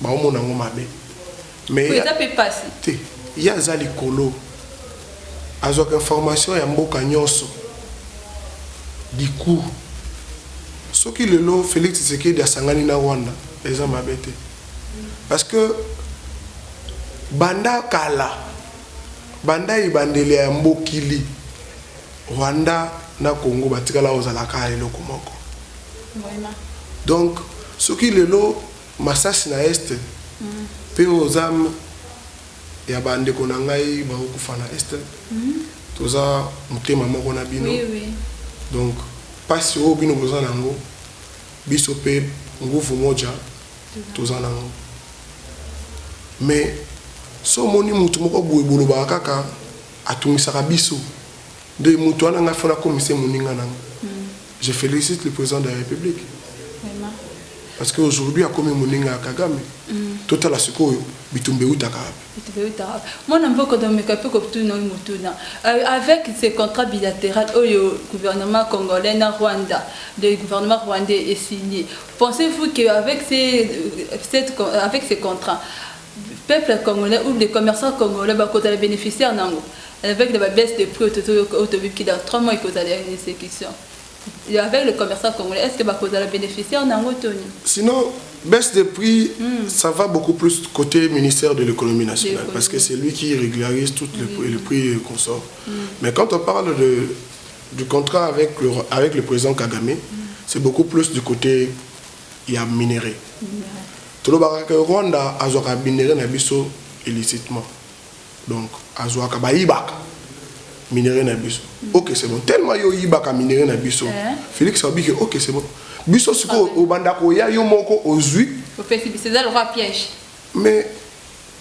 baomona yango mabe te ye aza likolo azwaka information ya mboka nyonso diku soki lelo félix tshisekedi asangani na rwanda eza mabe te parce que banda kala banda ebandeli ya mbokili rwanda na congo batikala kozalaka eloko moko donc soki lelo Masasi na Est pe oyo oza ya ba ndeko na ngai bazo kufa na Est toza motema moko na bino donc pasi oyo bino boza na yango biso pe nguvu moja toza na yango mais soki omoni mutu moko boye bolobaka kaka atungisaka biso nde mutu wana ngai faut nakomisa ye moninga na ngai. Je felicite le president de la republique parce que aujourd'hui akomi moninga ya Kagame totala sikoyo bitumba eutaka wapi mwana mboka domeka mpe kotuna oyo motuna euh, avec ce contrat bilatéral oyo gouvernement congolais na rwanda le gouvernement rwandais est signé pensez-vous que avec ces, euh, cette, avec ces contrats Peuple congolais ou des commerçants congolais ba kozala beneficiaire nango avec de ba baisse de prix oyo tozo yoka oyo toyebi que dans trois mois ekozala ya execution avec le commerçant congolais est ce que ba kozala beneficiaire nango to nini? Sinon baisse de prix ça va beaucoup plus cote ministère de l'economie nationale parce que c'est lui qui regularise tout le prix et consort mais quand on parle de du contrat avec le avec le president Kagame c'est beaucoup plus du cote ya minerais tolobaka que Rwanda azwaka minerais na biso illicitement donc azwaka bayibaka minerais na biso ok c'est bon tellement yo oyibaka minerais na biso Felix alobi que ok c'est bon biso sikoyo obanda koya yo moko ozwi mais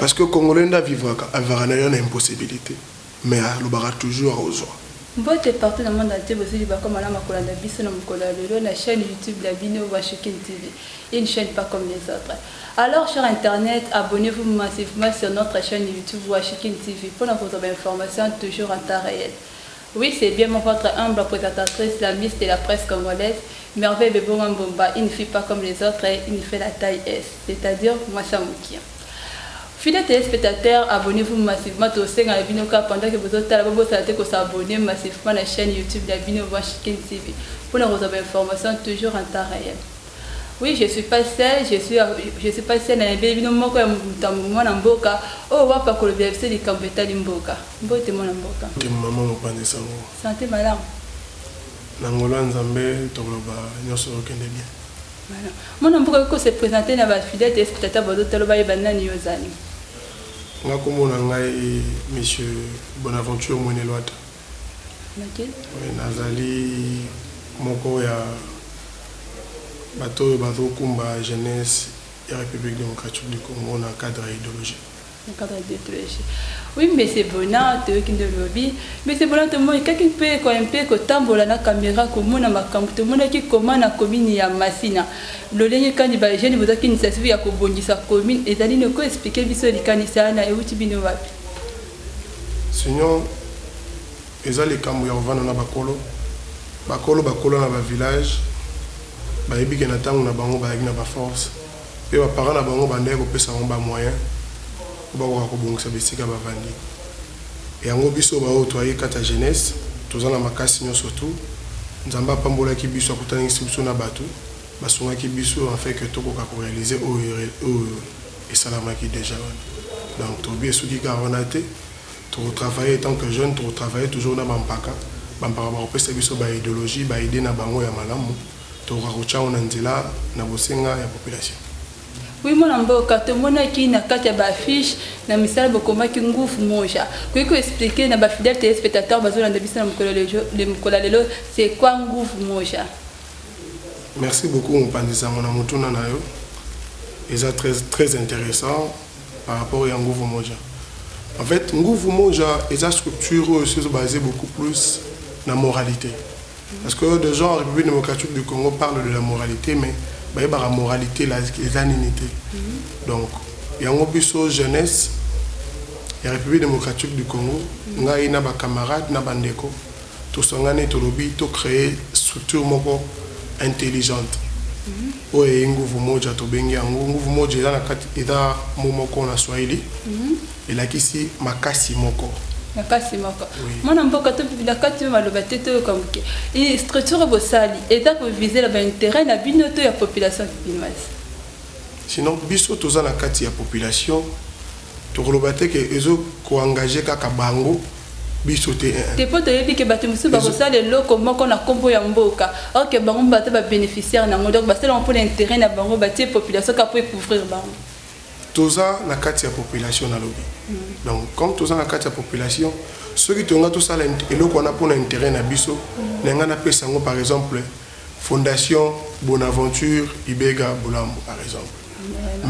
Parce que congolais nde avivraka avivaka naye na impossibilite mais alobaka toujours akozua. Mbote partout na monde entier bozui bakoma malamu ya kolanda biso na mokolo ya lelo na chaine youtube na bino Washikin TV une chaine pas comme les autres alors cher internet abonnez vous massivement sur notre chaine youtube Washikin TV pona kozua ba informations toujours en temps reel Oui c'est bien mon votre humble presentatrice la miss de la presse congolaise merveille bebo wa mbomba il ne fut pas comme les autres et il ne fait la taille es c'est à dire mwasi ya mokia Fidèles téléspectateurs, abonnez-vous massivement tosenga na bino kaka pendant que bozotala bobosana te kosabonne massivement na chaîne YouTube na bino Vanchikin TV mpo na kozwa ba information toujours en temps réel. Oui je suis pas seul je suis je suis pas seul na yebeli bino moko ya mutambu mwana mboka oyo wapi akolobela biso likambu etali mboka mbote mwana mboka. Mbote maman mopanzi sango. Sante malamu. Na ngolu ya nzambe tokoloba nionso ezokende bien. Voilà. Mwana mboka okoki ko se presenter na ba fidèles téléspectateurs bazo tala bayeba nani yo ozali. Nga kombo na ngai monsieur Bonaventure Mwenelwata. Nazali moko ya bato oyo bazo kumba jeunesse ya Republique Democratique du Congo na cadre ya ideologie. Na cadre ya ideologie. Oui, Monsieur Bona, toyoki nde olobi. Monsieur Bona, tomoni kaki mpe ekoya mpe kotambola na camera komona makambo. Tomonaki comment na commune ya Masina. Lolenge kani ba jeunes bozwaki initiative ya kobongisa commune ezali nini? Oko expliquer biso likanisi wana euti bino wapi? Sinon eza likambu ya kovanda na bakolo, bakolo bakola na ba village bayebi ke na tangu na bango bayaki na ba force pe ba parents na bango bandaki kopesa bango ba moyen po bakoka kobongisa bisika bavandi yango biso baoyo toyaki kati ya jeunesse toza na makasi nionso tout Nzambe apambolaki biso akutanisi biso na batu basungaki biso en fait que tokoka ko realiser oyo esalamaki dejà wana donc tolobi esuki kaka wana te toko travailler etant que jeune toko travailler toujours na ba mpaka ba mpaka bakopesa biso ba ideologie ba idee na bango ya malamu tokoka kotia yango na nzela na bosenga ya population. Oui mwana mboka tomonaki na kati ya ba affiche na misala bokomaki nguvu moja koki ko expliquer na ba fidèle telespectateur bazolanda biso na mokolo ya lelo c'est quoi nguvu moja Merci beaucoup mopanzi sango na motuna na yo eza très très interessant par rapport ya nguvu moja en fait nguvu moja eza structure oyo esi ezo base beaucoup plus na moralite parce que de gens en République démocratique du Congo parle de la moralite mais bayebaka moralite eza nini te donc yango biso jeunesse ya République démocratique du Congo ngai na ba camarades na ba ndeko Tosangani tolobi to creer structure moko intelligente oyo eye nguvu moja tobengi yango nguvu moja eza na kati eza mot moko na swahili elakisi makasi moko. Makasi moko. Oui. Mwana mboka to na kati yo maloba te to yoka muke. Et structure bosali eza ko viser ba intérêt na bino to ya population kipimasi. Sinon biso toza na kati ya population Tokoloba te que ezo ko engager kaka bango, biso te eeh. Te po toyebi que batu mosusu bakosala eloko moko na kombo ya mboka or que bango baza ba beneficiaires nango donc basali yango pona interet na bango batie population kaka po e couvrir bango. Toza na kati ya population nalobi donc comme toza na kati ya population soki tolinga tosala eloko wana pona interet na biso nalinga napesa yango par exemple Fondation Bonaventure Ibega Bulambo par exemple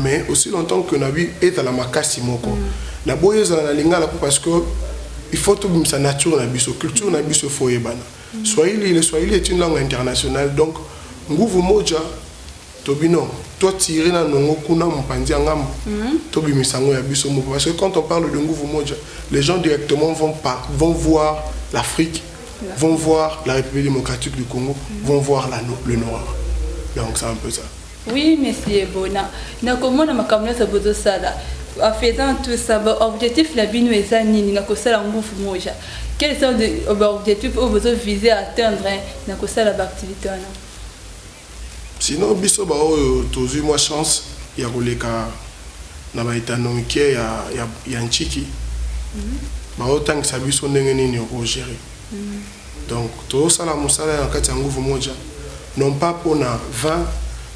mais aussi longtemps que na bi ezala makasi moko na boyi ezala na lingala po parce que il faut to bimisa nature na biso culture na biso il faut eyebana swahili le swahili est une langue internationale donc nguvu moja To bino to tire na nongo kuna mopanzi ya ngambo to bimisa yango ya biso moko parce que quand on parle de nguvu moja les gens directement vont pas vont voir l'Afrique vont voir la République démocratique du Congo vont voir la le Nord donc c'est un peu ça oui monsieur Bona na komona makambo nyonso bozosala en faisant tout ça objectif la bino eza nini na kosala nguvu moja quels sont les objectifs oyo bozo viser à atteindre na kosala ba activité wana Sinon biso ba oyo tozui mwa chance ya koleka na ba etando mikie ya Ntshiki bazo tangisa biso ndenge nini oko gerer. Donc tozo sala musala na kati ya nguvu moja non pas pona 20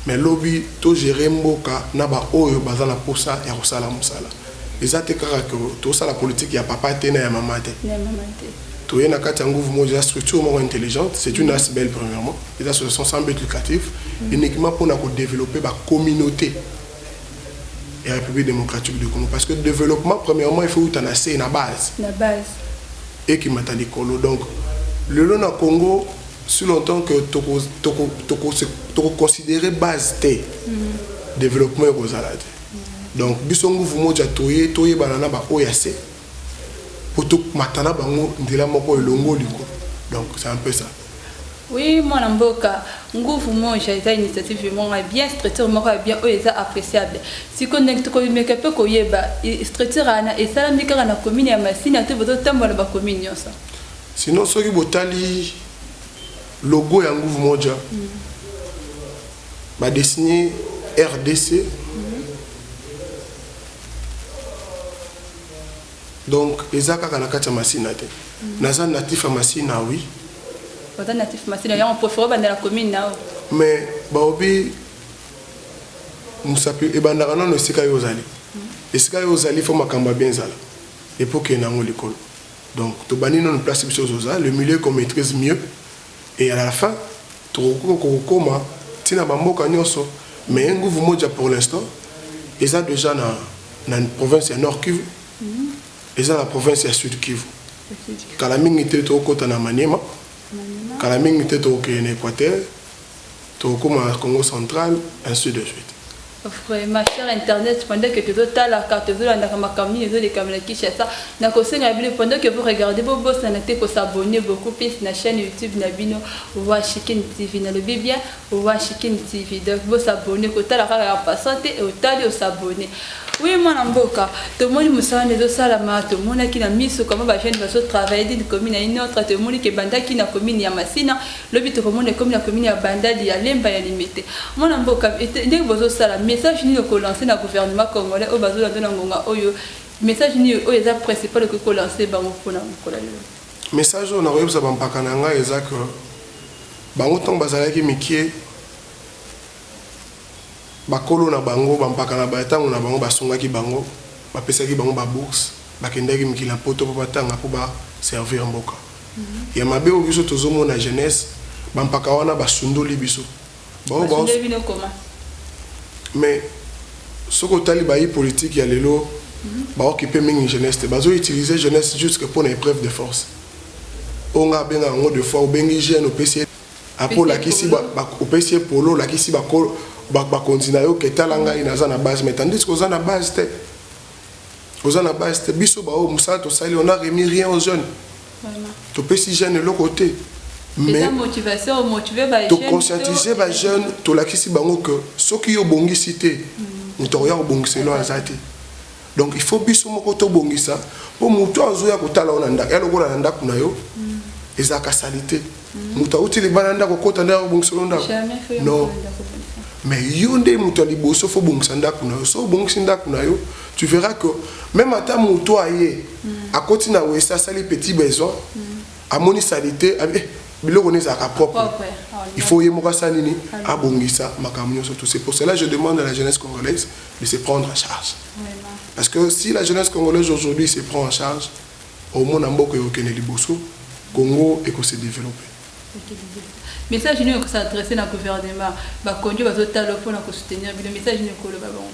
mais lobi to gerer mboka na ba oyo baza na posa ya kosala musala. Eza te kaka que tosala politique ya papa te na ya maman te. Toye na kati ya nguvu moko eza structure moko intelligente, c'est une asbl premièrement, eza association sans but lucratif uniquement pona ko developper ba communautes ya Republique democratique du Congo parce que developpement premièrement il faut euta na se, na base, ekimata likolo. Donc lelo na Congo si longtemps que toko toko toko se toko considerer base te developpement ekozala te. Donc biso nguvu moja toye toyebana na ba oyo ya se po tomata na bango nzela moko elongo likolo donc c'est un peu ça. Oui mwana mboka nguvu moja eza initiative moko ya bien structure moko ya bien oyo eza appréciable sikoyo ndenge tokomeka mpe koyeba structure wana esalami kaka na commune ya masina to bozotambola na bacommune nyonso sinon soki botali logo ya nguvu moja mm. Ba dessine rdc donc eza kaka na kati ya Masina te. Naza natif ya Masina oui. Oza natif Masina yango prefere obanda na commune na yo. Mais baobi musapi ebandaka nano esika yo ozali. Esika yo ozali fo makambo ya bien ezala. Epoke na yango likolo. Donc tobandi nano place biso ozoza le milieu qu'on maîtrise mieux. Et à la fin tokokoka kokoma ti na ba mboka nionso mais nguvu moja pour l'instant eza dejà na na province ya Nord Kivu eza na province ya Sud Kivu kala mingi te tokokota na Maniema kala mingi te tokokende na Equateur Tokokoma na Congo central ainsi de suite. Vraiment cher internet pendant que tozo talaka tozo landaka makambo nini ezo lekama na Kinshasa na kosenga bino pendant que vous regardez bo bosana te ko s'abonner beaucoup plus na chaine YouTube na bino Roi Chikin TV na lobi bien Roi Chikin TV donc bo s'abonner ko tala kaka en passant te otali o s'abonner Oui mwana mboka tomoni mosala nde ezosalama tomonaki na miso kama ba jeune bazotravaille dine commune ya une autre tomoni ke ebandaki na commune ya masina Lobi tokomona ekomi na commune ya Bandali ya Lemba ya Limete. Mwana mboka ndenge bozo sala message nini oko lancer na gouvernement congolais oyo bazo lando na ngonga oyo message nini oyo eza principal okoki ko lancer bango pona mokolo ya lelo? Message oyo nako yebisa ba mpaka na ngai eza que bango tango bazalaki mikie bakolo na bango ba mpaka na ba tango na bango ba sungaki bango ba pesaki bango ba bourse ba kendaki mikili ya poto po ba tanga po ba servir mboka. Ya mabe oyo biso tozo mona jeunesse ba mpaka wana ba sundoli biso ba oyo ba mais soki otali bayi politique ya lelo ba occupe mingi jeunesse te bazo utilise jeunesse jusque pona epreuve de force oyo nga abenga yango de fois obengi jeune opesi ye après olakisi opesi ye polo olakisi ba konzi nayo ke tala ngai naza na base mais tandis que oza na base te Oza na base te biso ba oyo musala tosali on a remis rien aux jeunes. Topesi jeune eloko te. Mais to conscientiser ba jeunes tolakisi bango que soki yo obongisi te mm. moto akoya kobongisa elo aza te. Donc il faut biso moko tobongisa po moto azoya kotala yo na ndako ya lokola na ndako na yo mm. ezalaka salite. moto auti libala ya ndako okota nde akobongisa yo ndako non mais yo nde moto ya liboso fo obongisa ndako na yo so obongisi ndako na yo tu verras que même ata moto aye mm. akoti na wese asali petit besoin mm. amoni salite ah, eh, biloko nde ezalaka propre ah, il faut ye moko asala nini ah, abongisa makambo nyonso tout c'est pour cela je demande à la jeunesse congolaise de se prendre en charge parce que si la jeunesse congolaise aujourd'hui se prend en charge omona mboka ekokende liboso congo eko se develope. Message nini oko s'adresser na gouvernement? Ba konjo bazo tala yo pona ko soutenir bino message nini oko loba bango?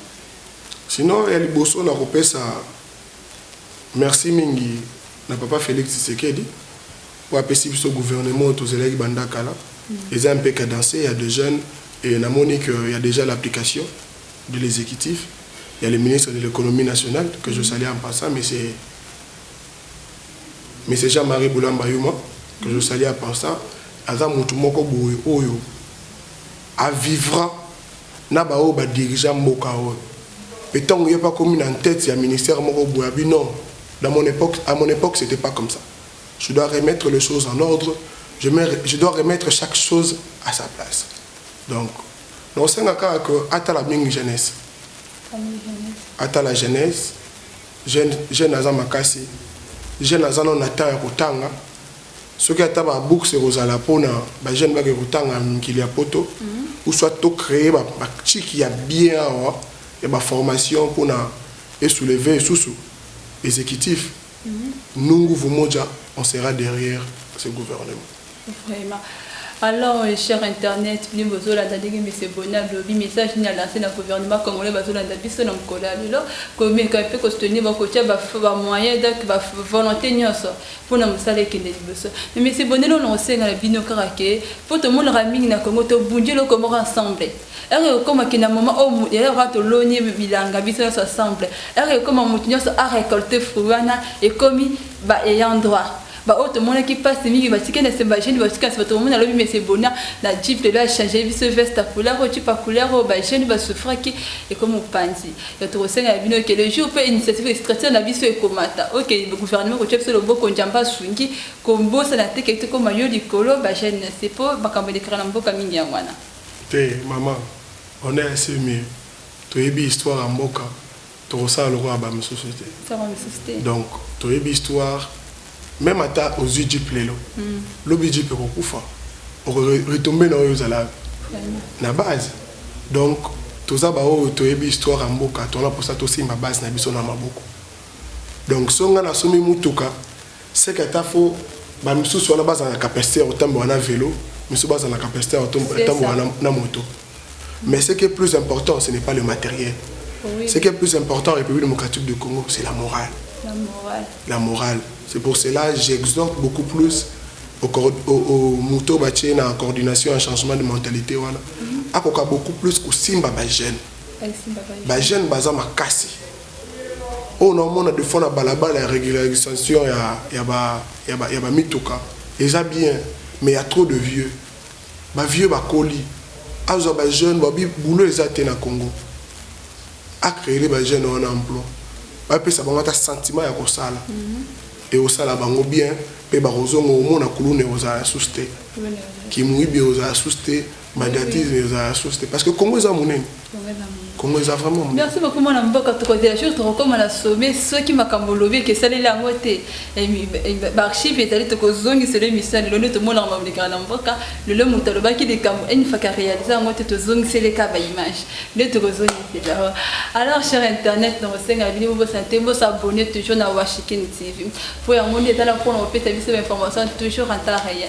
Sinon ya liboso nako pesa merci mingi na papa Felix Tshisekedi po apesi biso gouvernement oyo tozelaki banda kala eza un peu cadencer ya de jeunes et na moni que ya dejà l'application de l'executif ya le ministre de l'economie nationale que je salue en passant monsieur monsieur Jean Marie Bulamba Yuma que je salue en passant aza mutu moko boye oyo a vivra na ba oyo ba dirigea mboka oyo pe tango ye pa komi na tete ya ministère moko boye abi non dans mon époque à mon époque c'était pas comme ça je dois remettre les choses en ordre je, me, je dois remettre chaque chose à sa place donc Nakosenga kaka que atala mingi Genèse. Atala Genèse. Jeune, jeune aza makasi. Jeune aza nano na temps ya kotanga. Soki ata ba books ekozala pona ba jeunes bake kotanga mikili ya poto. Mm -hmm. Ou soit to créer ba, ba chiki ya bien awa ya ba formation pona esoulever susu exécutif. nous nguvu moja on sera derrière ce gouvernement. Vraiment. Alors, euh, cher Internet, bino bozolanda ndenge Monsieur Boni alobi message nini alanse na gouvernement congolais bazolanda biso na mokolo ya lelo komeka mpe kosoutenir bakotya bamoyen donc bavolonté nyonso mpo na mosala ekende liboso me Monsieur Boni elona kosenga na bino kaka ke mpo tomonaka mingi na Congo tobundi eloko moko ensemble Heure ekokoma que na moment oyo mutu yaya kaka toloni bilanga biso nionso ensemble, heure ekokoma mutu nionso a recolter fruit wana ekomi ba ayant droit ba oyo tomonaki pasi mingi batike na sima ba jeunes basuki na sima tokomona lobi monsieur Bonna na jeep lelo a changer biso veste ya couleur oyo jupe ya couleur oyo ba jeunes ba souffraki ekomi mopanzi donc tokosenga na bino que le jour pe initiative structure na biso ekomata oyo que gouvernement kotia biso loboko njamba asungi kobosana te que tokoma yo likolo ba jeunes na se po makambo elekaka na mboka mingi yango wana Te maman on est assez mieux toyebi histoire ya mboka toko sala lokola ba misusu te donc toyebi histoire meme ata ozui jeep lelo lobi jeep eko kufa oko retomber na oyo ozala na base donc toza ba oyo toyebi histoire ya mboka toza na posa tosimba base na biso na maboko donc soki nga na sombi mutuka Seke ata fo ba misusu wana bazala na capacite ya kotambola na velo misusu bazala na capacite ya kotambola na moto mais ce qui est plus important ce n'est pas le materiel oui. ce qui est plus important en République démocratique du Congo c'est la morale la morale la morale c'est pour cela j'exhorte beaucoup plus au, au, au moto batie na coordination ya changement de mentalité wana mm -hmm. akoka beaucoup plus kosimba ba jeunes ba jeunes baza makasi Oyo nao mona de fois na balabala ya regularisation ya ba mituka eza bien mais ya trop de vieux ba vieux ba koli azo zua ba jeune ba lobi boulot eza te na congo a creele ba jeune wana emploi ba pesa bango ata sentiment ya kosala eko sala bango bien pe bako zonga omona kuluna eko zala susu te ki muyibi eko zala susu te Bandiatisme ezala source te parce que Congo eza monene. Congo eza vraiment monene. Merci beaucoup mwana mboka tokozela jour tokokoma na sommet soki makambo olobi eke esaleli yango te baarchive ezali tokozongisela emission lelo nde tomonaka mabolekaka na mboka lelo moto alobaki likambo enifaka réalise yango te tozongiseli ka baimage nde tokozongisela alors cher internet na kosenga bino bobosana te bosabone toujours na washikin tv mpo yango nde ezala mpona kopesa biso bainformation toujours en temps réel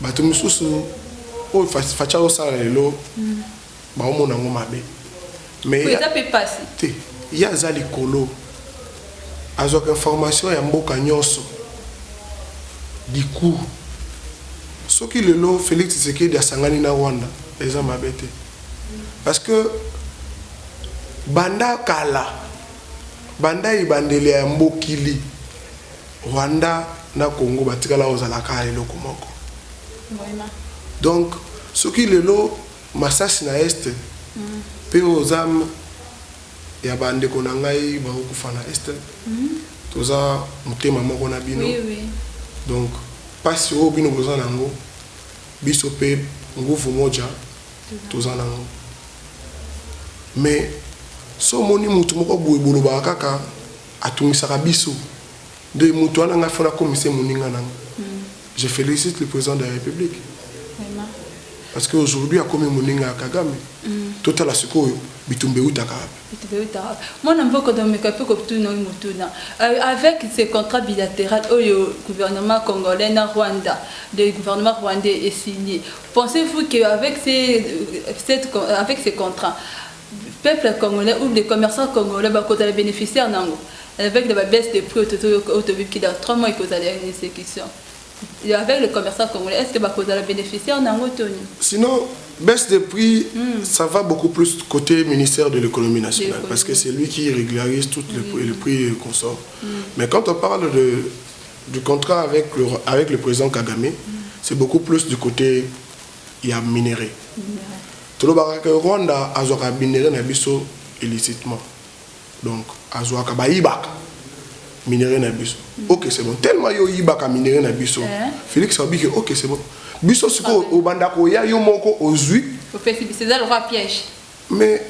Batu mususu oyo fatshi azo sala lelo bao mona ngo mabe mais eza pe pasi te ye aza likolo azwaka information ya mboka nionso du coup soki lelo Felix tshisekedi asangani na Rwanda eza mabe te parce que banda kala banda ebandeli ya mokili Rwanda na Congo batikala kozala kaka eloko moko. Donc soki lelo masasi na Est mpe oyo oza ya ba ndeko na ngai bakokufa na Est toza motema moko na bino donc mpasi oyo bino boza na yango biso mpe nguvu moja toza na yango mais so omoni motu moko boye bolobaka kaka Atungisaka biso nde mutu wana nga faut nakomisa ye muninga nanga je felicite le president de la republique parce que aujourd'hui akomi muninga ya kagame totala sikoyo bitumba ewutaka wapi mwana mboka domeka mpe kotuna oyo motuna euh, avec ce contrat bilatéral oyo gouvernement congolais na rwanda le gouvernement rwandais est signé pensez-vous que avec ces, euh, cette, euh, avec ces contrats Peuple congolais ou des commerçants congolais ba kozala beneficiaire nango avec de ba baisse de prix oyo to bimki dans trois mois ekozala ya execution avec le commerçant congolais est ce que ba kozala beneficiaire nango to nini? Sinon baisse de prix ça va beaucoup plus cote ministère de l'economie nationale parce que c'est lui qui regularise tout le prix et consomme mais quand on parle de du contrat avec le avec le president kagame c'est beaucoup plus du cote ya minerais tolobaka que Rwanda azwaka minerais na biso illicitement donc azwaka bayibaka minerais na biso ok c'est bon tellement yo oyibaka minerais na biso Felix alobi que ok c'est bon biso sikoyo obanda koya yo moko ozwi opesi biso eza lokola piège mais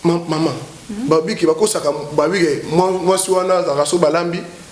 maman babiki bakosaka babiki mwasi wana azalaka so balambi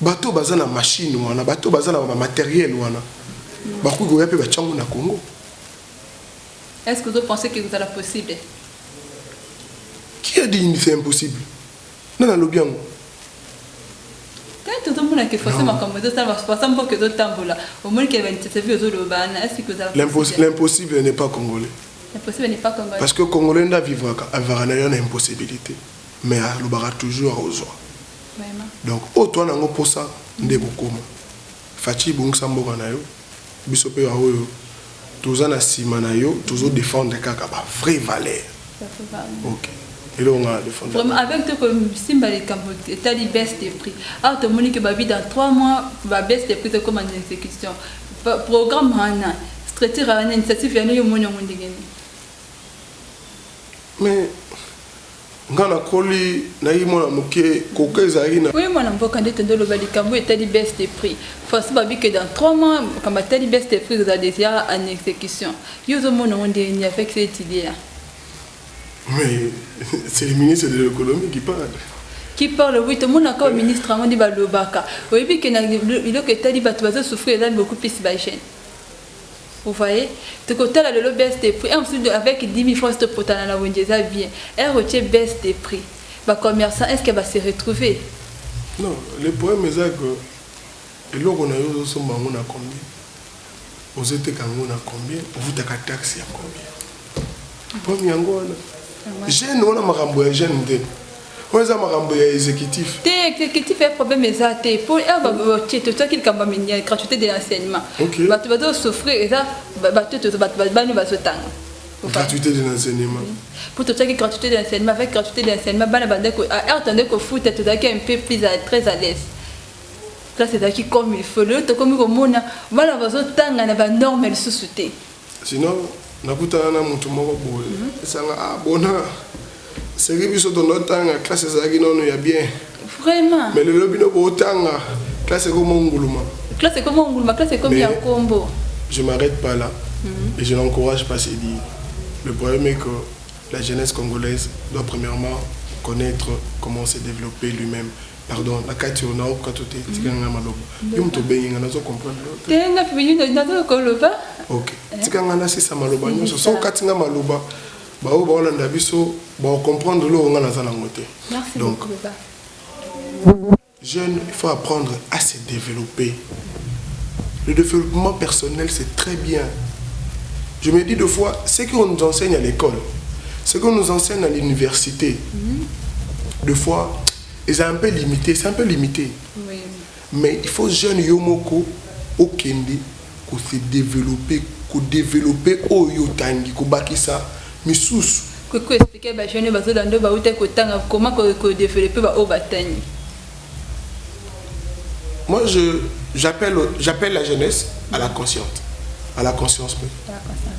Bato baza na machine wana, bato baza na ba materiel wana, bakoki koya pe batia ngo na Congo. Est-ce que ozo penser que ekozala possible? Qui a dit c'est impossible? Nani alobi yango? L'impossible n'est pas congolais. L'impossible n'est pas congolais. Parce que congolais nda vivaka avaka na yo na impossibilité. Mais alobaka toujours ozwa. donc oyo toa nango posa nde ekokoma fatshi bongisa mboka na yo biso pe ba oyo toza na sima na yo tozo defendre kaka ba vrai valeur ok eloko nga na defendre vraiment avec te ko simba likambo etali baisse de prix awa tomoni ke babi dans 3 mois ba baisse de prix tokoma na exécution programme wana structure wana initiative yana yo omoni yango ndenge nini mais Nga na koli na ki mwana muke coca ezalaki na. Oui mwana mboka nde tondo loba likambu etali baisse de prix façon ba bi que dans trois mois makambo etali baisse de prix eza dejà en execution yo ozo mona ngo ndenge nini avec cette idee là. Mais c'est le ministre de l'économie qui parle. qui parle oui tomonaka oyo ministre yango nde balobaka oyebi ke na biloko etali bato bazosouffrir eza beaucoup plus bajeune Vous voyez? Tokotala lelo baisse de prix. Heure mosusu de avec 10.000 francs si topotana na wenze eza bien. Heure otie baisse de prix. Ba commerçants est-ce que ba se retrouver? Non, le problème eza que eloko na yo ozosomba yango na combien? Ozoteka yango na combien? Ovutaka taxe ya combien? Problème yango wana. Jeune wana makambo ya jeune nde. oyo eza makambo ya executif te executif ya problème eza te mpo batie totiaki likambo ya gratuité de l'enseignement bato bazo souffrir eza bato bani bazotanga gratuité de l'enseignement mpo totiaki gratuité de l'enseignement avec gratuité de l'enseignement bana bande heure tande kofuta tozalaki un peu plus très à l'aise place ezalaki comme il faut lelo tokomi komona bana bazotanga na banorme lisusu te Sinon nakutana na mutu moko boye esanga ah bona seri biso tondo tanga classe ezalaki nanu ya bien vraiment mais lelo bino bo tanga classe ekomi onguluma classe ekomi onguluma classe ekomi ya kombo je m'arrête pas là mm -hmm. et je n'encourage pas c'est dit le problème est que la jeunesse congolaise doit premièrement connaître comment se développer lui-même Pardon, na kati yo nao kato te, tika nga maloba. Yo moto obengi nga nazo comprendre yo te. Te nga pe yo nazo koloba. OK. Eh? Tika nga na sisa maloba nyonso. So kati nga maloba, ba oyo baolanda biso ba comprendre lo nga naza nango te. Merci Donc, beaucoup. Jeune, il faut apprendre à se développer. Le développement personnel, c'est très bien. Je me dis deux fois, ce qu'on nous enseigne à l'école, ce qu'on nous enseigne à l'université, mm -hmm. deux fois, Ezala un peu limite, c'est un peu limite. Oui. Mais il faut jeune yo moko okende ko se developper, ko developper oyo otangi, ko bakisa misusu. Ko expliquer ba jeunes bazo landa ba uta ko tanga comment ko developper ba oyo batangi. Moi je j'appelle j'appelle la jeunesse à la consciente, à la conscience. À la conscience.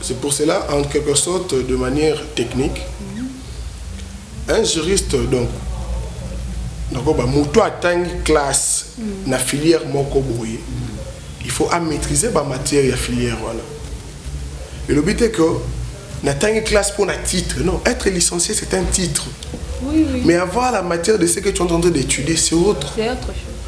C'est pour cela, en quelque sorte, de manière technique, un juriste, donc, nakoba moto atangi classe mm. na filière moko boye il faut à maîtriser ba matière ya filière wana elobi te que natangi classe pour na titre non être licencié c'est un titre oui, oui. mais avoir la matière de ce que tu es en train d'étudier c'est autre, autre chose.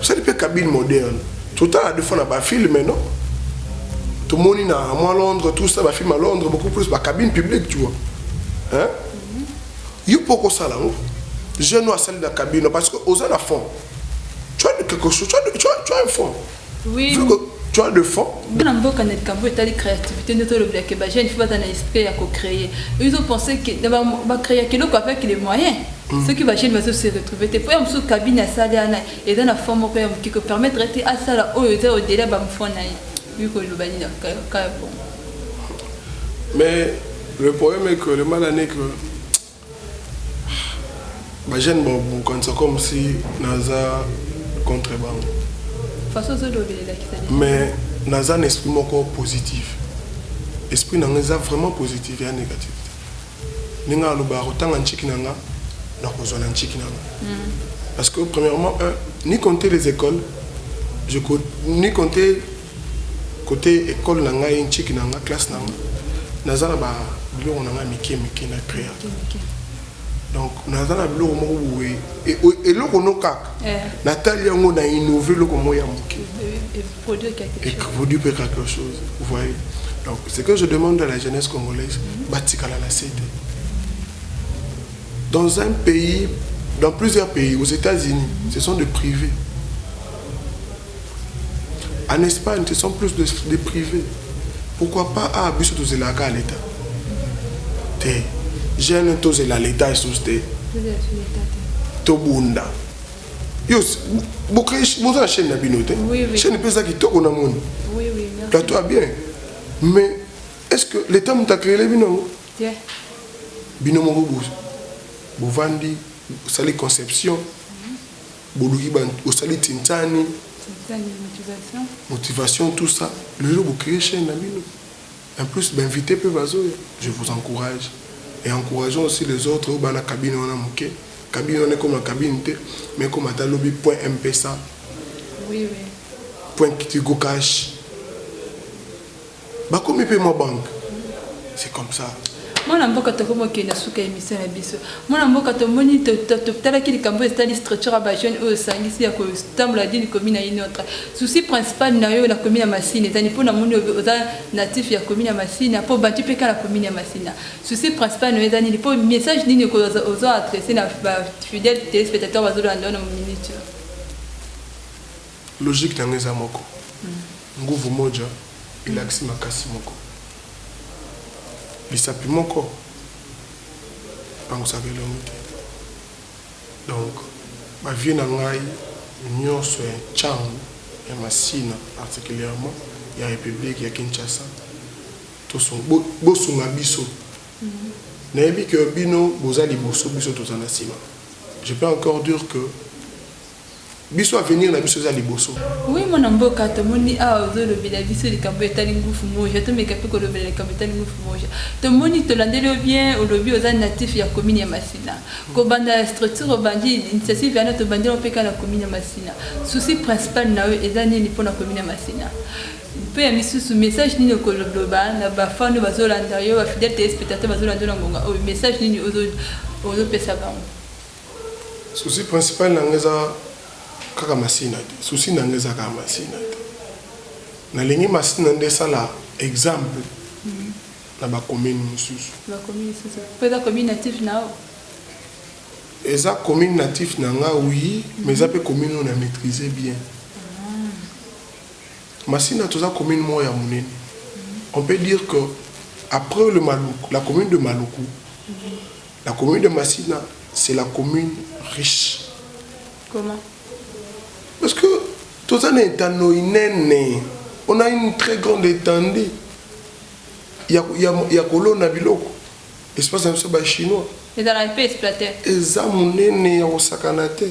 Osali pe cabine moderne totala de fois na ba films non tomoni na mwa Londres tout ça ba films ya Londres beaucoup plus ba cabine publique tu vois hein yo pe okosala yango jeune oyo asali na cabine parce que oza na fond tu as quelque chose tu as, tu as, tu as un fond Oui. Vu que tu as le fond. Bana mboka na likambo etali créativité nde tolobela ke bajeune fo baza na esprit ya kocréer ils ont pensé ke bacréaka eloko avec les moyens mm. soki bajeune bazo se retrouve te mpo ya mosusu kabine asali ana eza na fond moko ya moke kopermettre ete asala oyo eza odela bamfo na ye wi koloba nini kaya bongo mais le problème est que le mal ane que Ba jeune ba bukanisa comme si naza contre bango. Façon ozo lobela elakisa dejà. Mais naza na esprit moko positif. Esprit na nga eza vraiment positif y'a negatif te. Ndenge na lobaka kotanga ntshiki na nga nakozwa na ntshiki na nga. Parce que premièrement un ni compter les ecoles je ni compter Cote ecole na ngai nciki na nga classe na nga naza na ba biloko na ngai mike mike na crea donc naza na biloko moko boye eloko no kaka eh. natali yango na innove eloko moko ya moke produit mpe quelque chose vous voyez donc ce que je demande à la jeunesse congolaise mhm. batikala na se te dans un pays dans plusieurs pays aux états-unis ce sont de privés en Espagne ce sont plus de, de privé pourquoi pas ah biso tozelaka kaka leta te jeune tozela leta esusu te tobunda yo boza na chaîne na bino te chaîne mpe eza kitoko na moni plateau ya bien mais est ce que leta moto akelele bino yango bino moko bovandi osali conception Boluki ba osali tintani. Tintani motivation. Motivation tout ça lelo bo cree chaine na bino en plus ba invite pe bazoya je vous encourage et encourageons aussi les autres oyo bana cabine wana muke cabine wana ekoma cabine te mais ekoma ata lobi point mpesa oui oui point tigo cash Bakomi pe mwa banque c'est comme ça. Mwana mboka tokomi kokende na suka ya emission na biso. Mwana mboka tomoni totalaki likambo oyo etali structure ya ba jeunes oyo osangisi ya kotambola d'une commune na une autre. Souci principal na yo na commune ya Masina ezali mpo namoni oza natif ya commune ya Masina mpo obandi mpe kaka na commune ya Masina. Souci principal na yo eza nini mpo message nini ozo adresser na ba fidèles telespectateurs bazolanda yo na minute oyo? Logique na nga eza moko, nguvu moja elakisi makasi moko. Lisapi moko epangusaka elongi te. Donc, ba vieux na ngai nionso ya Tshangu, ya Masina particulièrement, ya Republique ya Kinshasa, bosunga biso. Nayebi que bino boza liboso, biso toza na sima. Je peux encore dire que biso avenir na biso eza liboso. Oui mwana mboka tomoni awa ozolobela biso likambo etali ngufu moja tomeka pe kolobela likambo etali ngufu moja tomoni tolandeli yo bien olobi oza natif ya commune ya masina kobanda ya structure obandi initiative yana tobandi yango pe kaka na commune ya masina souci principal na yo eza nini pona commune ya masina pe ya misusu message nini okoloba na ba fan oyo bazolanda yo ba fidèle telespectateur bazolanda yo na ngonga oyo message nini ozopesa bango Souci principal na nga eza kaka masina te souci na nga eza kaka masina te nalingi masina nde esala exemple na ba commune mosusu eza commune natif na nga oui mais eza mpe commune oyo na maîtrise bien ah. masina toza commune moko ya monene on peut dire que après le maluku la commune de maluku La commune de Masina c'est la commune riche. Comment? Parce que toza na etando inene, on a une très grande etendue ya, ya, ya kolona biloko espace na biso ba chinois ezalaka mpe exploiter eza monene ya kosakana te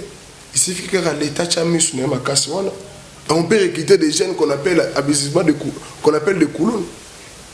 isifi kaka leta atya miso na ye makasi wana on peut recruter des jeunes qu'on appelle abusivement de qu'on appelle de kuluna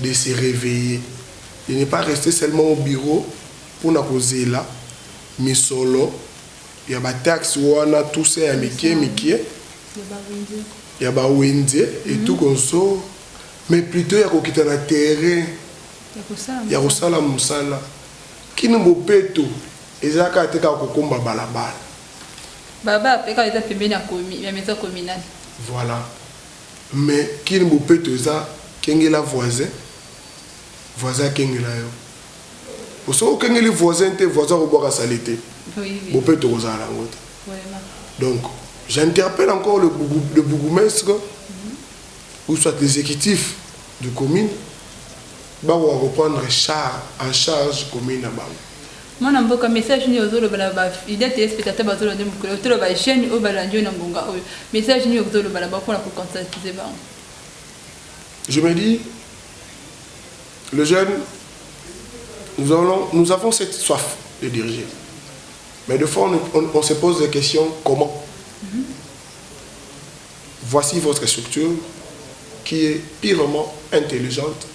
de se reveiller de ne pas rester seulement au bureau pona kozela misolo ya ba taxes wana tout ça ya mikie mikie ya ba wenze et tout konso mais plutot ya kokita na terrain ya kosala musala kin bopeto eza kaka te kaka kokomba balabala baba pe kaka eza pembeni ya maison communale voilà Mais kin bopeto eza kengela voisin voisin akengela yo po soki okengeli voisin te voisin akobwaka salete bopeto ekozala na yango te donc j'interpelle encore le, le bourgmestre mm -hmm. ou soit l'exécutif du commune bakoka koprendre en charge commune na bango Mwana mboka message nini ozo loba na ba idee telespectateur bazo lande mokolo oyo tolo ba jeune oyo ba landi yo na ngonga oyo message nini okzo loba na bango pona ko conscientiser bango. Je me dis, le jeune, nous, allons, nous avons cette soif de diriger. Mais de fois, on, on, on se pose des questions, comment mm -hmm. Voici votre structure qui est purement intelligente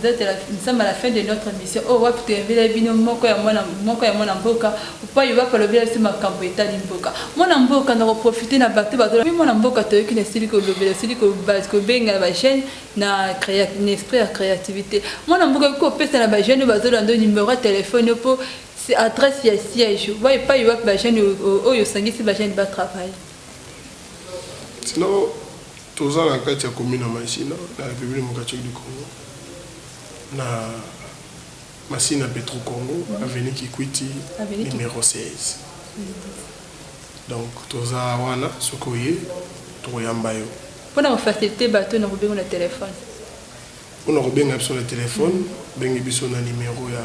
Peut etre la nzambe à la fin de notre emission oyo wapi to invite bino moko ya mwana moko ya mwana mboka upayi wapi alobela biso makambo etali mboka mwana mboka na ko profiter na bato bato mi mwana mboka to yoki na sili ko lobela sili ko base ko benga na ba jeune na créa na esprit ya créativité mwana mboka ko pesa na ba jeune ba zola ndo numéro ya téléphone po c'est adresse ya siège wapi pa wapi ba jeune oyo sangisi ba jeune ba travail Ntina toza na kati ya commune ya Masina na Republique democratique du Congo na Masina Petro-Congo avenue Kikwiti numero 16 donc toza wana soki oye tokoyamba yo. Mpo na kofasilite bato oyo nakobenga na telefone. Pona kobenga biso na telephone bengi biso na numero ya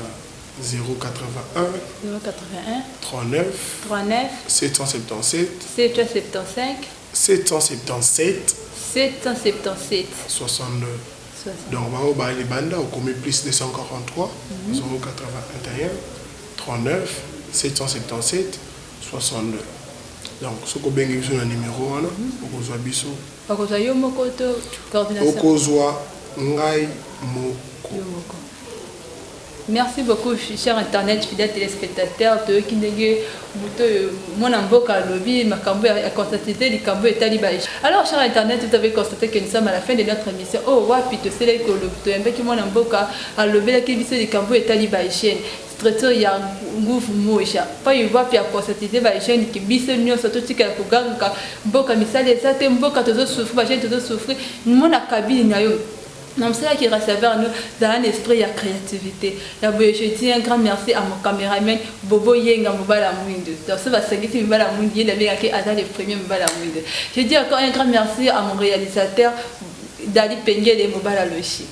08139777762 donc bango ba libanda okomi plus 24038139777762 donc soki obengi biso na numero wana okozua biso Okozwa yo moko to coordination? Okozwa ngai moko. Yo moko. Merci beaucoup cher internet fidèle telespectateur toyoki ndenge moto oyo mwana mboka alobi makambo ya constate likambo etali ba alors cher internet vous avez constaté que nous sommes à la fin de notre émission oyo oh, wapi toselaki toyambaki mwana mboka alobelaki biso likambo etali ba hygiène Traiteur ya nguvu moja. Payi wapi a conscientiser ba jeunes que biso nionso totika ya kogangaka mboka misala eza te, mboka tozo souffrir, ba jeunes tozo souffrir. Mona kabili na yo na mosala ki recevoir no zala na esprit ya creativite ya boye je dis un grand merci à mon cameraman bobo yenga mobala muindu donc soki basangisi mibala muindu ye nde abengaki aza le premier mobala muindu je dis encore un grand merci à mon realisateur dali pengele mobala logique